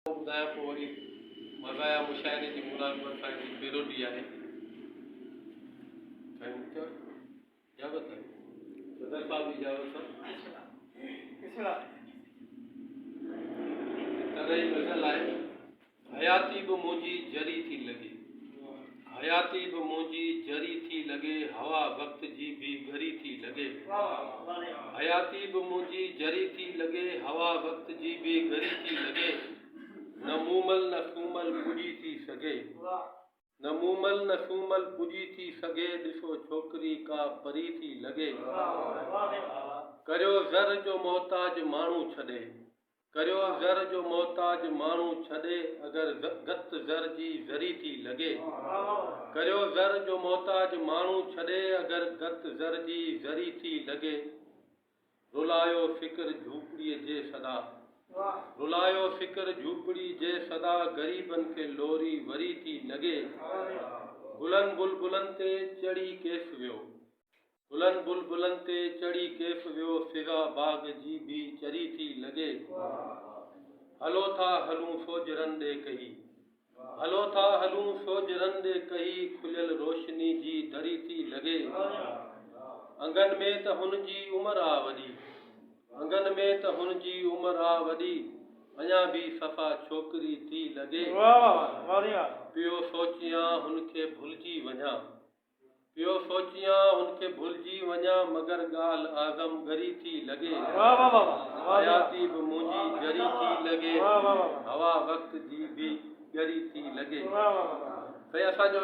ٻڌايان پوء وري مزايا مشاعري جي مراد وري سان جي پيروڊي آهي ٿينڪ يو اجازت آهي صدر صاحب جي اجازت سان طرح جي غزل آهي حياتي به منهنجي جري ٿي لڳي حياتي به منهنجي جري ٿي لڳي هوا وقت جي به ڳري ٿي لڳي حياتي به منهنجي جري ٿي لڳي هوا وقت جي به ڳري ٿي لڳي نه مومل نه سومل پڄي ٿي سگهي نه مومل نه سومل پڄي ٿي سگهي ڏسو ڇوڪري ڪا پري ٿي لڳي ڪريو زر جو محتاج ماڻهو ڇڏي ڪريو زر جو محتاج ماڻهو ڇڏي اگر گت زر جي زري ٿي لڳي ڪريو زر جو محتاج ماڻهو ڇڏي اگر گت زر جي زري ٿي لڳي رلايو فڪر جهوپڙي جي صدا رلايو فڪر جهوپڙي جي صدا غريبن کي لوري وري ٿي لڳي گلن بلبلن تي چڙهي ڪيس ويو. گلن بلبلن تي چڙهي ڪيف ويو فضا باغ جي بي چري ٿي لڳي هلو ٿا هلون فوجرن ڏي ڪهي هلو ٿا هلون فوجرن ڏي ڪهي کليل روشني جي دري ٿي لڳي انگن ۾ ته هن جي عمر آ وڏي انگن ۾ ته هن جي عمر آ وڏي اڃا به صفا ڇوڪري ٿي لڳي پيو سوچيان هن کي ڀلجي وڃان پيو سوچيان هن کي ڀلجي وڃان مگر ڳالهه اعظم ڳري ٿي لڳي حياتي به منهنجي جري ٿي لڳي هوا وقت جي به ڳري ٿي لڳي سائين اسان جو